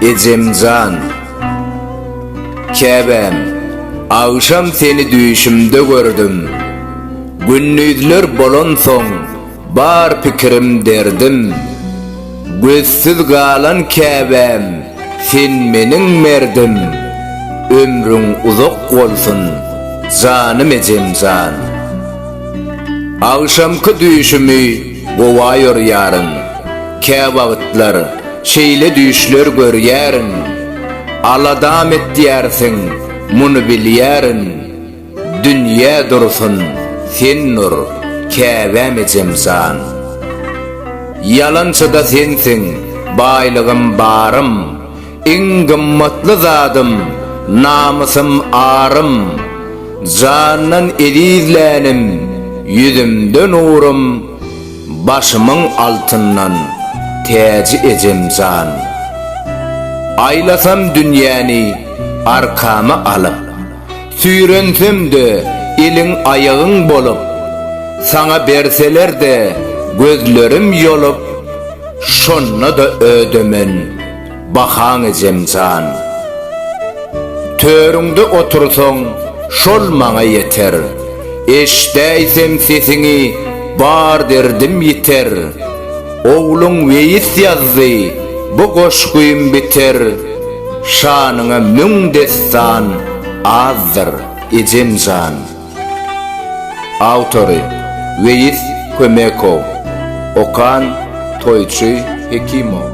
Ejemjan, käbäm, agşam seni düýşümde gördüm. Gündizler bolansoň, bar pikirim derdim. Gözsüz galan Käbäm sen meniň merdim Ömrüň uzak bolsun janym ejemjan Agşamky düýşümi gowaýor ýarym Käwagtlar şeýle düýşler görýärin Aladam etýärsiň muny bilýärin Dünýe dursun, sen nur, Käbäm ejem jan. Ýalançyda sensiň, baýlygym, barym, Iň gymmatly zadym, namysym, arym. Jandan eziz länim, ýüzümde nurym, Başymyň altyndan täji ejem jan. Aýlasam dünýäni arkama alyp. Süýrensem-de, eliň-aýagyň bolup, Saňa berseler-de, gözlerim ýolup, Şonda-da ödemen bahaň ejem jan. Törüňde otursaň, şol maňa ýeter, Eşdäýsem sesiňi, bar derdim ýiter. Ogluň Weýis ýazdy bu goşgym biter Şanyňa müň dessan azdyr ejem jan. Awtory, Weýis Kömekow. Okan, Toýçy Hekimow.